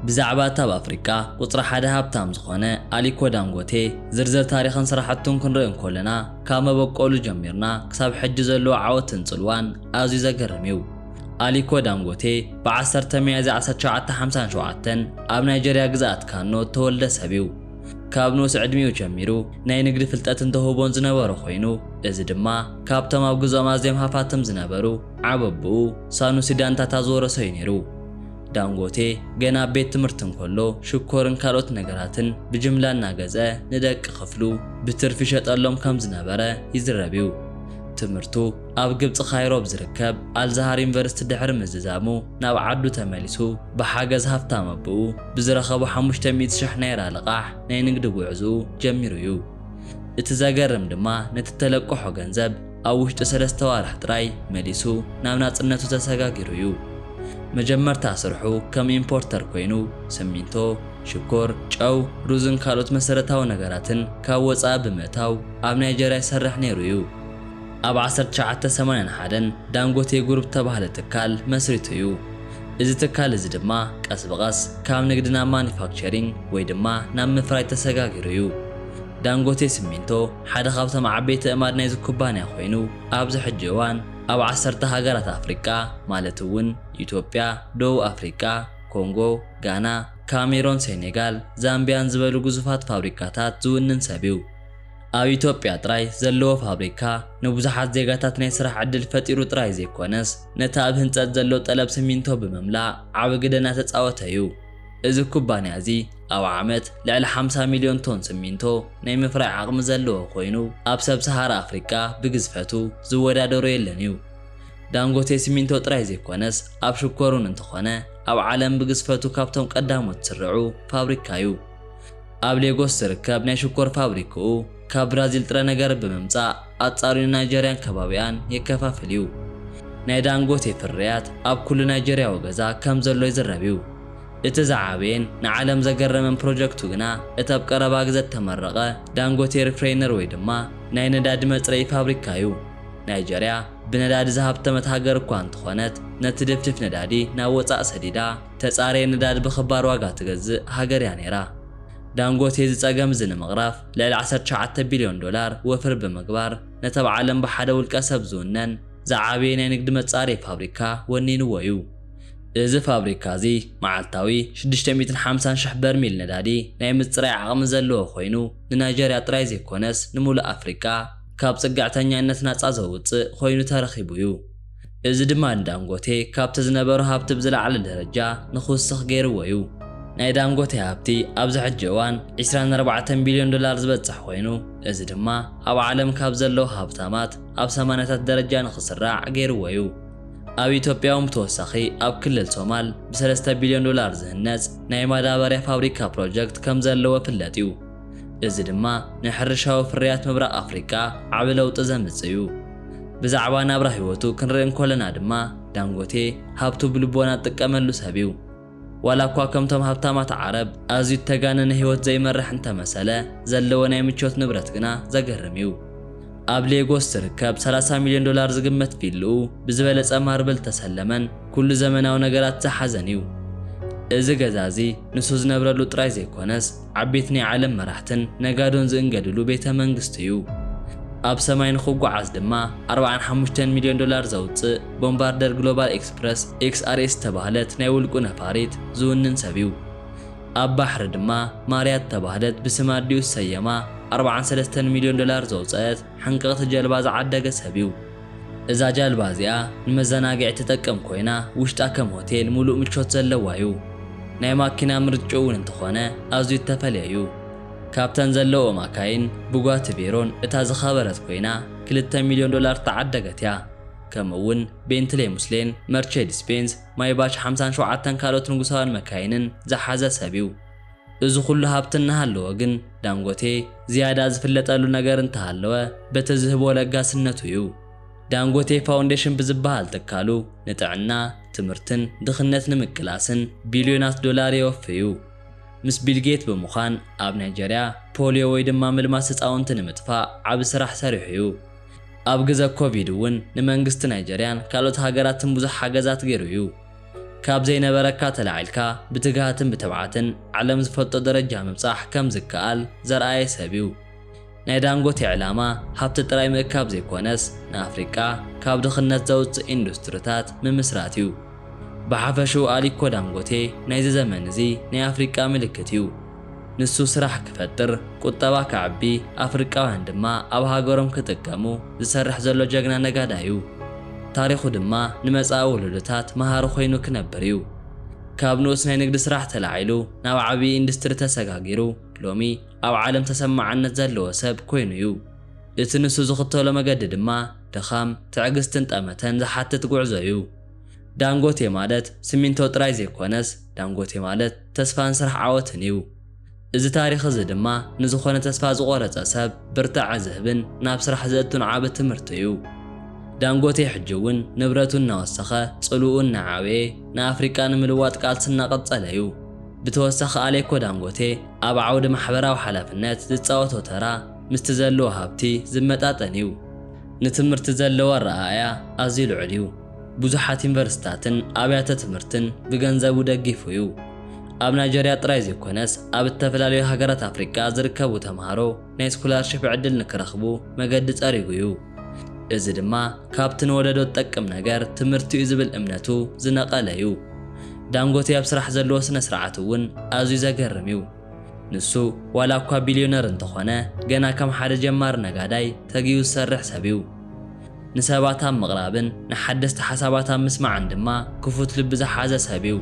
ብዛዕባ እታ ኣብ ኣፍሪቃ ቁጽሪ ሓደ ሃብታም ዝኾነ ኣሊኮ ዳንጎቴ ዝርዝር ታሪኽን ስራሕቱን ክንርኢ እንኮለና ካብ መበቆሉ ጀሚርና ክሳብ ሕጂ ዘለዎ ዓወትን ጽልዋን ኣዝዩ ዘገርም እዩ። ኣሊኮ ዳንጎቴ ብ ዓሰርተ ሚያዝያ ዓሰርተ ሸውዓተ ሓምሳን ሸውዓተን ኣብ ናይጀርያ ግዝኣት ካኖ እተወልደ ሰብ እዩ። ካብ ንኡስ ዕድሚኡ ጀሚሩ ናይ ንግዲ ፍልጠትን ተውህቦን ዝነበሮ ኮይኑ እዚ ድማ ካብቶም ኣብ ግዝኦም ኣዝዮም ሃፋትም ዝነበሩ ዓበብኡ ሳኑሲ ዳንታታ ዝወረሶ እዩ ነይሩ። ዳንጎቴ ገና ኣብ ቤት ትምህርቲ እንከሎ ሽኮርን ካልኦት ነገራትን ብጅምላ እናገዝአ ንደቂ ክፍሉ ብትርፊ ይሸጠሎም ከም ዝነበረ ይዝረብ እዩ። ትምህርቱ ኣብ ግብጺ ካይሮ ኣብ ዝርከብ ኣልዛሃር ዩኒቨርሲቲ ድሕሪ ምዝዛሙ ናብ ዓዱ ተመሊሱ ብሓገዝ ሃፍታም ኣቦኡ ብዝረኸቦ ሓሙሽተ ሚእቲ ሽሕ ናይራ ልቓሕ ናይ ንግዲ ጉዕዝኡ ጀሚሩ እዩ። እቲ ዘገርም ድማ ነቲ እተለቀሖ ገንዘብ ኣብ ውሽጢ ሰለስተ ዋርሕ ጥራይ መሊሱ ናብ ናጽነቱ ተሰጋጊሩ እዩ። መጀመርታ ስርሑ ከም ኢምፖርተር ኮይኑ ስሚንቶ፣ ሽኮር፣ ጨው፣ ሩዝን ካልኦት መሰረታዊ ነገራትን ካብ ወጻኢ ብምእታው ኣብ ናይጀርያ ይሰርሕ ነይሩ እዩ። ኣብ ዓሰርተ ትሽዓተ ሰማንያን ሓደን ዳንጎቴ ጉሩፕ ዝተባህለ ትካል መስሪቱ እዩ። እዚ ትካል እዚ ድማ ቀስ ብቐስ ካብ ንግዲ ናብ ማኑፋክቸሪንግ ወይ ድማ ናብ ምፍራይ ተሰጋጊሩ እዩ። ዳንጎቴ ስሚንቶ፣ ሓደ ካብቶም ዓበይቲ ኣእማድ ናይዚ ኩባንያ ኮይኑ፣ ኣብዚ ሕጂ እዋን ኣብ ዓሰርተ ሃገራት ኣፍሪቃ ማለት እውን ኢትዮጵያ፣ ደቡብ ኣፍሪቃ፣ ኮንጎ፣ ጋና፣ ካሜሮን፣ ሴኔጋል፣ ዛምቢያን ዝበሉ ግዙፋት ፋብሪካታት ዝውንን ሰብ'ዩ። ኣብ ኢትዮጵያ ጥራይ ዘለዎ ፋብሪካ ንብዙሓት ዜጋታት ናይ ስራሕ ዕድል ፈጢሩ ጥራይ ዘይኮነስ ነቲ ኣብ ህንጸት ዘሎ ጠለብ ስሚንቶ ብምምላእ ዓቢ ግደ እናተጻወተ'ዩ። እዚ ኩባንያ'ዚ፣ ኣብ ዓመት ልዕሊ ሓምሳ ሚልዮን ቶን ስሚንቶ ናይ ምፍራይ ዓቕሚ ዘለዎ ኮይኑ፣ ኣብ ሰብ ሰሃራ ኣፍሪቃ ብግዝፈቱ ዝወዳደሮ የለን እዩ። ዳንጎቴ ስሚንቶ ጥራይ ዘይኮነስ ኣብ ሽኮር'ውን እንተኾነ ኣብ ዓለም ብግዝፈቱ ካብቶም ቀዳሞት ዝስርዑ ፋብሪካ እዩ። ኣብ ሌጎስ ዝርከብ ናይ ሽኮር ፋብሪክኡ ካብ ብራዚል ጥረ ነገር ብምምጻእ ኣጻርዩ ንናይጀርያን ከባቢኣን የከፋፍል እዩ። ናይ ዳንጎቴ ፍርያት ኣብ ኩሉ ናይጀርያዊ ገዛ ከም ዘሎ ይዝረብ እዩ። እቲ ዝዓበየን ንዓለም ዘገረመን ፕሮጀክቱ ግና እቲ ኣብ ቀረባ ግዘ እተመረቐ ዳንጎቴ ሪፍሬይነር ወይ ድማ ናይ ነዳዲ መፅረዪ ፋብሪካ እዩ። ናይጀርያ ብነዳዲ ዝሃብተመት ሃገር እኳ እንተኾነት ነቲ ድፍድፍ ነዳዲ ናብ ወፃእ ሰዲዳ ተፃረየ ነዳዲ ብኽባር ዋጋ ትገዝእ ሃገር እያ ነይራ። ዳንጎቴ እዚ ፀገም እዚ ንምቕራፍ ልዕሊ ዓሰርተ ትሽዓተ ቢልዮን ዶላር ወፍሪ ብምግባር ነቲ ኣብ ዓለም ብሓደ ውልቀ ሰብ ዝውነን ዝዓበየ ናይ ንግዲ መፃረዪ ፋብሪካ ወኒንዎ እዩ። እዚ ፋብሪካ እዚ መዓልታዊ ሽዱሽተ ሚእትን ሓምሳን ሽሕ በርሚል ነዳዲ ናይ ምጽራይ ዓቕሚ ዘለዎ ኮይኑ፣ ንናይጀርያ ጥራይ ዘይኮነስ ንምሉእ ኣፍሪቃ ካብ ጽግዕተኛነት ናጻ ዘውጽእ ኮይኑ ተረኺቡ እዩ። እዚ ድማ ንዳንጎቴ ካብቲ ዝነበሮ ሃብቲ ብዝለዓለ ደረጃ ንኽውስኽ ገይርዎ እዩ። ናይ ዳንጎቴ ሃብቲ ኣብዚ ሕጂ እዋን ዕስራን ኣርባዕተን ቢልዮን ዶላር ዝበጽሕ ኮይኑ፣ እዚ ድማ ኣብ ዓለም ካብ ዘለዉ ሃብታማት ኣብ ሰማንያታት ደረጃ ንኽስራዕ ገይርዎ እዩ። ኣብ ኢትዮጵያ'ውን ብተወሳኺ ኣብ ክልል ሶማል ብሰለስተ ቢልዮን ዶላር ዝህነፅ ናይ ማዳበርያ ፋብሪካ ፕሮጀክት ከምዘለዎ ፍለጥ'ዩ። እዚ ድማ ንሕርሻዊ ፍርያት ምብራቕ ኣፍሪቃ ዓቢ ለውጢ ዘምጽእ'ዩ። ብዛዕባ ናብራ ህይወቱ ክንርኢ እንኮለና ድማ ዳንጎቴ ሃብቱ ብልቦና ዝጥቀመሉ ሰብ'ዩ። ዋላ እኳ ከምቶም ሃብታማት ዓረብ ኣዝዩ እተጋነነ ህይወት ዘይመርሕ እንተ መሰለ፣ ዘለዎ ናይ ምቾት ንብረት ግና ዘገርም እዩ። ኣብ ሌጎስ ዝርከብ ሰላሳ ሚልዮን ዶላር ዝግመት ቪልኡ ብዝበለጸ ማርብል እተሰለመን ኵሉ ዘመናዊ ነገራት ዝሓዘን እዩ። እዚ ገዛ እዚ ንሱ ዝነብረሉ ጥራይ ዘይኰነስ፣ ዓቤት ናይ ዓለም መራሕትን ነጋዶን ዝእንገድሉ ቤተ መንግስቲ'ዩ። ኣብ ሰማይ ንኽጓዓዝ ድማ ኣርብዓን ሓሙሽተን ሚልዮን ዶላር ዘውጽእ ቦምባርደር ግሎባል ኤክስፕረስ፣ ኤክስኣርኤስ፣ ዝተባህለት ናይ ውልቁ ነፋሪት ዝውንን ሰብ'ዩ። ኣብ ባሕሪ ድማ ማርያ እተባህለት ብስም ኣዲኡ ዝሰየማ ኣርብዓን ሰለስተን ሚልዮን ዶላር ዘውጸእት ሓንቀቕቲ ጀልባ ዝዓደገ ሰብ'ዩ። እዛ ጃልባ እዚኣ ንመዘናግዒ ትጠቅም ኮይና ውሽጣ ከም ሆቴል ሙሉእ ምቾት ዘለዋ ዩ። ናይ ማኪና ምርጭኡ ውን እንተኾነ ኣዝዩ እተፈልየ ዩ። ካብተን ዘለውኦ ማካይን ቡጋቲ ቬሮን እታ ዝኸበረት ኮይና ክልተ ሚልዮን ዶላር እተዓደገት እያ። ከምኡ ውን ቤንትሌይ ሙስሌን መርቼዲስ ቤንዝ ማይባች ሓምሳን ሸውዓተን ካልኦት ንጉሳውያን መካይንን ዝሓዘ ሰብ ዩ። እዚ ኹሉ ሃብቲ እናሃለዎ ግን ዳንጎቴ ዝያዳ ዝፍለጠሉ ነገር እንተሃለወ በቲ ዝህቦ ለጋስነቱ እዩ። ዳንጎቴ ፋውንዴሽን ብዝበሃል ትካሉ ንጥዕና፣ ትምህርትን ድኽነት ንምቅላስን ቢልዮናት ዶላር የወፊ እዩ። ምስ ቢል ጌት ብምዃን ኣብ ናይጀርያ ፖልዮ ወይ ድማ ምልማስ ህፃውንቲ ንምጥፋእ ዓቢ ስራሕ ሰሪሑ እዩ። ኣብ ግዘ ኮቪድ እውን ንመንግስቲ ናይጀርያን ካልኦት ሃገራትን ብዙሕ ሓገዛት ገይሩ እዩ። ካብ ዘይነበረካ ተላዒልካ ብትግሃትን ብትብዓትን ዓለም ዝፈልጦ ደረጃ ምብጻሕ ከም ዝከኣል ዘርኣየ ሰብ'ዩ። ናይ ዳንጎቴ ዕላማ ሃብቲ ጥራይ ምእካብ ዘይኮነስ ንኣፍሪቃ ካብ ድኽነት ዘውጽእ ኢንዱስትሪታት ምምስራት'ዩ። ብሓፈሽኡ ኣሊኮ ዳንጎቴ ናይዚ ዘመን'ዚ ናይ ኣፍሪቃ ምልክት'ዩ። ንሱ ስራሕ ክፈጥር፣ ቁጠባ ከዕቢ፣ ኣፍሪቃውያን ድማ ኣብ ሃገሮም ክጥቀሙ ዝሰርሕ ዘሎ ጀግና ነጋዳይ'ዩ። ታሪኹ ድማ ንመጻኢ ወለዶታት መሃሪ ኮይኑ ክነብር'ዩ። ካብ ንኡስ ናይ ንግዲ ስራሕ ተላዒሉ ናብ ዓብዪ ኢንዱስትሪ ተሰጋጊሩ ሎሚ ኣብ ዓለም ተሰማዕነት ዘለዎ ሰብ ኮይኑ'ዩ። እቲ ንሱ ዝኽተሎ መገዲ ድማ ድኻም፣ ትዕግስትን ጠመተን ዝሓትት ጉዕዞ'ዩ። ዳንጎቴ ማለት ስሚንቶ ጥራይ ዘይኮነስ፣ ዳንጎቴ ማለት፣ ተስፋን ስራሕ ዓወትን እዩ። እዚ ታሪኽ እዚ ድማ ንዝኾነ ተስፋ ዝቖረጸ ሰብ ብርታዐ ዝህብን ናብ ስራሕ ዘእቱን ዓቢ ትምህርቲ እዩ። ዳንጎቴ ሕጂ እውን ንብረቱ እናወሰኸ ጽልውኡ እናዓበየ ንኣፍሪቃ ንምልዋጥ ቃልሲ እናቐጸለ እዩ። ብተወሳኺ ኣሌኮ ዳንጎቴ ኣብ ዓውዲ ማሕበራዊ ሓላፍነት ዝጻወቶ ተራ ምስቲ ዘለዎ ሃብቲ ዝመጣጠን እዩ። ንትምህርቲ ዘለዎ ኣረኣእያ ኣዝዩ ልዑል እዩ። ብዙሓት ዩኒቨርሲቲታትን ኣብያተ ትምህርትን ብገንዘቡ ደጊፉ እዩ። ኣብ ናይጀርያ ጥራይ ዘይኮነስ ኣብ እተፈላለዩ ሃገራት ኣፍሪቃ ዝርከቡ ተመሃሮ ናይ ስኮላርሺፕ ዕድል ንክረኽቡ መገዲ ጸሪጉ እዩ። እዚ ድማ ካብቲ ንወለዶ ዝጠቅም ነገር ትምህርቲ እዩ ዝብል እምነቱ ዝነቐለ እዩ። ዳንጎቴ ኣብ ስራሕ ዘለዎ ስነ-ስርዓት እውን ኣዝዩ ዘገርም እዩ። ንሱ ዋላ እኳ ቢልዮነር እንተኾነ ገና ከም ሓደ ጀማሪ ነጋዳይ ተጊሁ ዝሰርሕ ሰብ'ዩ። ንሰባት ኣብ ምቕራብን ንሓደስቲ ሓሳባት ኣብ ምስማዕን ድማ ክፉት ልቢ ዝሓዘ ሰብ'ዩ።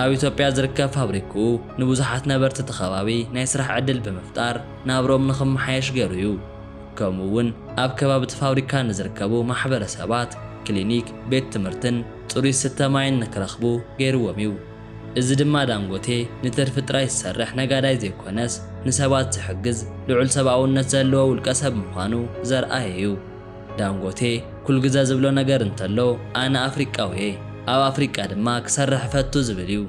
ኣብ ኢትዮጵያ ዝርከብ ፋብሪክኡ ንብዙሓት ነበርቲ እቲ ከባቢ ናይ ስራሕ ዕድል ብምፍጣር ናብርኦም ንኽመሓየሽ ገይሩ'ዩ። ከምኡ'ውን ኣብ ከባቢ እቲ ፋብሪካ ንዝርከቡ ማሕበረሰባት ክሊኒክ፣ ቤት ትምህርትን ፅሩይ ዝስተ ማይን ንክረኽቡ ገይሩዎም'ዩ። እዚ ድማ ዳንጎቴ ንትርፊ ጥራይ ዝሰርሕ ነጋዳይ ዘይኮነስ ንሰባት ዝሕግዝ ልዑል ሰብኣውነት ዘለዎ ውልቀሰብ ምዃኑ ዘርኣየ'ዩ። ዳንጎቴ ኩል ግዘ ዝብሎ ነገር እንተሎ ኣነ ኣፍሪቃዊ'የ፣ ኣብ ኣፍሪቃ ድማ ክሰርሕ እፈቱ ዝብል'ዩ።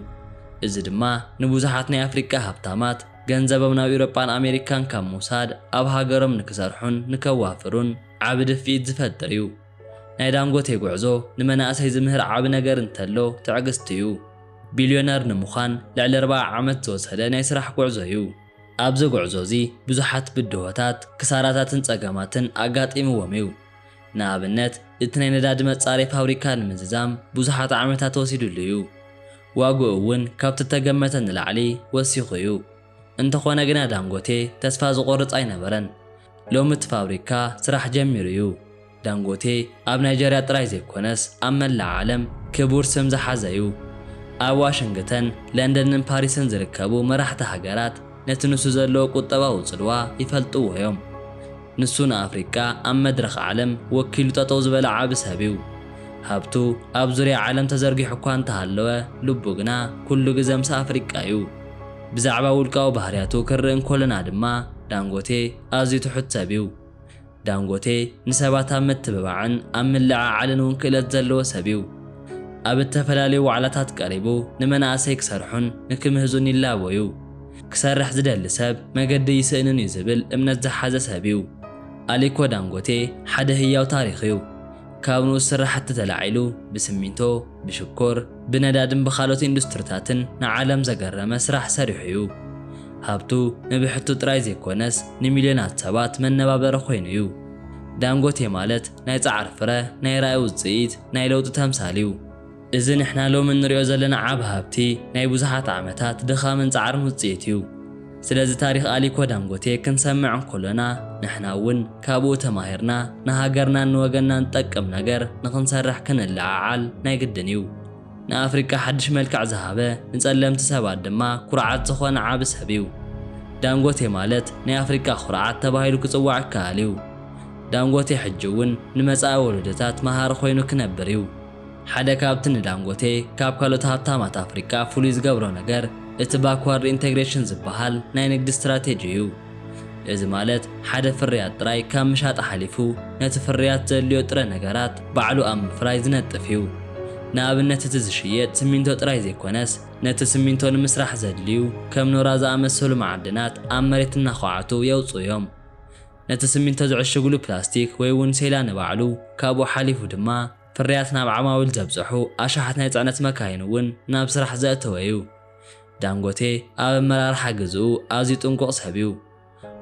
እዚ ድማ ንብዙሓት ናይ ኣፍሪቃ ሃብታማት ገንዘቦም ናብ ኢውሮጳን ኣሜሪካን ካብ ምውሳድ ኣብ ሃገሮም ንክሰርሑን ንከዋፍሩን ዓቢ ድፍኢት ዝፈጥር'ዩ። ናይ ዳንጎቴ ጉዕዞ ንመናእሰይ ዝምህር ዓቢ ነገር እንተሎ ትዕግስቲ'ዩ። ቢልዮነር ንምዃን ልዕሊ ኣርብዓ ዓመት ዝወሰደ ናይ ስራሕ ጉዕዞ'ዩ። ኣብዚ ጉዕዞ'ዚ ብዙሓት ብድሆታት፣ ክሳራታትን ጸገማትን ኣጋጢምዎም'ዩ። ንኣብነት እቲ ናይ ነዳዲ መጻረዪ ፋብሪካ ንምዝዛም ብዙሓት ዓመታት ወሲድሉ'ዩ። ዋግኡ'ውን ካብቲ እተገመተ ንላዕሊ ወሲኹ'ዩ። እንተኾነ ግና ዳንጎቴ ተስፋ ዝቖርጽ ኣይነበረን። ሎሚ እቲ ፋብሪካ ስራሕ ጀሚሩ እዩ። ዳንጎቴ ኣብ ናይጀርያ ጥራይ ዘይኮነስ ኣብ መላእ ዓለም ክቡር ስም ዝሓዘ እዩ። ኣብ ዋሽንግተን፣ ለንደንን ፓሪስን ዝርከቡ መራሕቲ ሃገራት ነቲ ንሱ ዘለዎ ቁጠባዊ ጽልዋ ይፈልጥዎ እዮም። ንሱ ንኣፍሪቃ ኣብ መድረኽ ዓለም ወኪሉ ጠጠው ዝበለ ዓቢ ሰብ እዩ። ሃብቱ ኣብ ዙርያ ዓለም ተዘርጊሑ እኳ እንተሃለወ ልቡ ግና ኩሉ ግዘ ምስ ኣፍሪቃ እዩ። ብዛዕባ ውልቃዊ ባህርያቱ ክንርኢ እንኮለና ድማ ዳንጎቴ ኣዝዩ ትሑት ሰብ እዩ። ዳንጎቴ ንሰባት ኣብ ምትብባዕን ኣብ ምልዕዓልን እውን ክእለት ዘለዎ ሰብ እዩ። ኣብ እተፈላለዩ ዋዕላታት ቀሪቡ ንመናእሰይ ክሰርሑን ንክምህዙን ይላቦ እዩ። ክሰርሕ ዝደሊ ሰብ መገዲ ኣይስእንን እዩ ዝብል እምነት ዝሓዘ ሰብ እዩ። ኣሊኮ ዳንጎቴ ሓደ ህያው ታሪኽ እዩ። ካብ ንኡስ ስራሕቲ ተላዒሉ ብስሚንቶ፣ ብሽኮር፣ ብነዳድን ብኻልኦት ኢንዱስትሪታትን ንዓለም ዘገረመ ስራሕ ሰሪሑ እዩ። ሃብቱ ንብሕቱ ጥራይ ዘይኮነስ ንሚልዮናት ሰባት መነባበሪ ኮይኑ እዩ። ዳንጎቴ ማለት ናይ ጻዕሪ ፍረ፣ ናይ ራኢ ውጽኢት፣ ናይ ለውጢ ተምሳል እዩ። እዚ ንሕና ሎሚ እንሪኦ ዘለና ዓቢ ሃብቲ ናይ ብዙሓት ዓመታት ድኻምን ጻዕርን ውጽኢት እዩ። ስለዚ ታሪኽ ኣሊኮ ዳንጎቴ ክንሰምዕ እንኮሎና ንሕና እውን ካብኡ ተማሂርና ንሃገርናን ንወገንናን ዝጠቅም ነገር ንኽንሰርሕ ክንለዓዓል ናይ ግድን እዩ። ንኣፍሪቃ ሓድሽ መልክዕ ዝሃበ ንጸለምቲ ሰባት ድማ ኩርዓት ዝኾነ ዓቢ ሰብ እዩ። ዳንጎቴ ማለት ናይ ኣፍሪቃ ኩርዓት ተባሂሉ ክጽዋዕ ይከኣል እዩ። ዳንጎቴ ሕጂ እውን ንመጻኢ ወለዶታት መሃሪ ኮይኑ ክነብር እዩ። ሓደ ካብቲ ንዳንጎቴ ካብ ካልኦት ሃብታማት ኣፍሪቃ ፍሉይ ዝገብሮ ነገር እቲ ባክዋርድ ኢንተግሬሽን ዝበሃል ናይ ንግዲ ስትራቴጂ እዩ። እዚ ማለት ሓደ ፍርያት ጥራይ ካብ ምሻጥ ሓሊፉ ነቲ ፍርያት ዘድልዮ ጥረ ነገራት ባዕሉ ኣብ ምፍራይ ዝነጥፍ እዩ። ንኣብነት እቲ ዝሽየጥ ስሚንቶ ጥራይ ዘይኮነስ ነቲ ስሚንቶ ንምስራሕ ዘድልዩ ከም ኖራ ዝኣመሰሉ መዓድናት ኣብ መሬት እናዃዓቱ የውጽኡ እዮም። ነቲ ስሚንቶ ዝዕሽግሉ ፕላስቲክ ወይ'ውን ሴላ ንባዕሉ ካብኡ ሓሊፉ ድማ ፍርያት ናብ ዓማዊል ዘብጸሑ ኣሽሓት ናይ ጽዕነት መካይን እውን ናብ ስራሕ ዘእተወ እዩ። ዳንጎቴ ኣብ ኣመራርሓ ግዝኡ ኣዝዩ ጥንቁቕ ሰብ እዩ።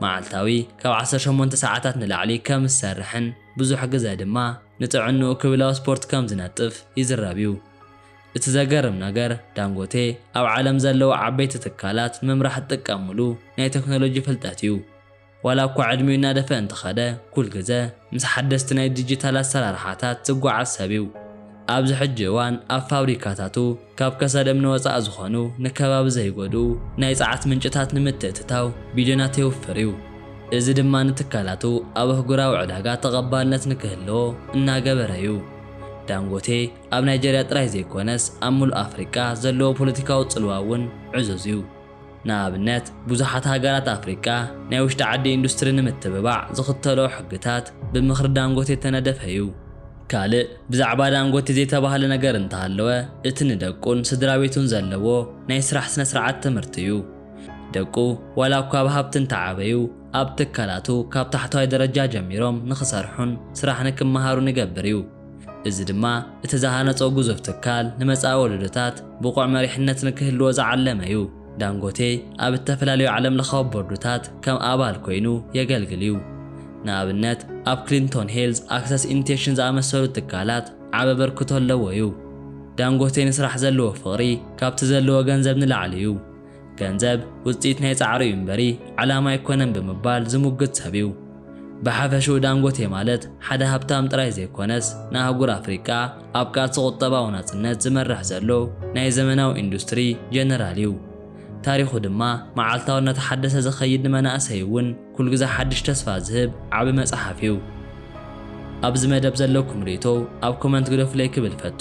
መዓልታዊ ካብ ዓሰርተ ሸሞንተ ሰዓታት ንላዕሊ ከም ዝሰርሕን ብዙሕ ግዘ ድማ ንጥዕንኡ ክብል ኣብ ስፖርት ከም ዝነጥፍ ይዝረብ እዩ። እቲ ዘገርም ነገር ዳንጎቴ ኣብ ዓለም ዘለዉ ዓበይቲ ትካላት ንምምራሕ ዝጥቀምሉ ናይ ተክኖሎጂ ፍልጠት እዩ። ዋላ እኳ ዕድሚኡ እናደፍአ እንተኸደ፣ ኩል ግዘ ምስ ሓደስቲ ናይ ዲጂታል ኣሰራርሓታት ዝጓዓዝ ሰብ ዩ። ኣብዚ ሕጂ እዋን ኣብ ፋብሪካታቱ ካብ ከሰል እምኒ ወፃኢ ዝኾኑ ንከባቢ ዘይጎድኡ ናይ ፀዓት ምንጭታት ንምትእትታው ቢልዮናት የውፍር ዩ። እዚ ድማ ንትካላቱ ኣብ ኣህጉራዊ ዕዳጋ ተቐባልነት ንክህልዎ እናገበረ ዩ። ዳንጎቴ ኣብ ናይጀርያ ጥራይ ዘይኮነስ ኣብ ሙሉእ ኣፍሪቃ ዘለዎ ፖለቲካዊ ፅልዋ ውን ዕዙዝ ዩ። ንኣብነት ብዙሓት ሃገራት ኣፍሪቃ ናይ ውሽጢ ዓዲ ኢንዱስትሪ ንምትብባዕ ዝኽተልኦ ሕግታት ብምኽሪ ዳንጎቴ እተነደፈ እዩ። ካልእ ብዛዕባ ዳንጎቴ ዘይተባህለ ነገር እንተሃለወ እቲ ንደቁን ስድራ ቤቱን ዘለዎ ናይ ስራሕ ስነ ስርዓት ትምህርቲ እዩ። ደቁ ዋላ እኳ ብ ሃብቲ እንተዓበዩ ኣብ ትካላቱ ካብ ታሕተዋይ ደረጃ ጀሚሮም ንኽሰርሑን ስራሕ ንክመሃሩን ይገብር እዩ። እዚ ድማ እቲ ዝሃነጾ ግዙፍ ትካል ንመጻኢ ወለዶታት ብቑዕ መሪሕነት ንክህልዎ ዝዓለመ'ዩ። ዳንጎቴ ኣብ እተፈላለዩ ዓለምለኻዊ ቦርድታት ከም ኣባል ኰይኑ የገልግል'ዩ። ንኣብነት ኣብ ክሊንቶን ሄልዝ ኣክሰስ ኢንቴሽን ዝኣመሰሉ ትካላት ዓቢ ኣበርክቶ ኣለዎ'ዩ። ዳንጎቴ ንስራሕ ዘለዎ ፍቕሪ ካብቲ ዘለዎ ገንዘብ ንላዕሊ'ዩ። ገንዘብ ውጽኢት ናይ ጻዕሩ እዩ እምበሪ ዕላማ ኣይኮነን ብምባል ዝሙግት ሰብ እዩ። ብሓፈሽኡ ዳንጎቴ ማለት ሓደ ሃብታም ጥራይ ዘይኮነስ ንኣህጉር ኣፍሪቃ ኣብ ቃልሲ ቁጠባዊ ናጽነት ዝመርሕ ዘሎ ናይ ዘመናዊ ኢንዱስትሪ ጀነራል እዩ። ታሪኹ ድማ መዓልታዊ እናተሓደሰ ዝኸይድ ንመናእሰይ እውን ኩሉ ግዘ ሓድሽ ተስፋ ዝህብ ዓቢ መጽሓፍ እዩ። ኣብዚ መደብ ዘለኩም ርእይቶ ኣብ ኮመንት ግደፉለይ ክብል እፈቱ።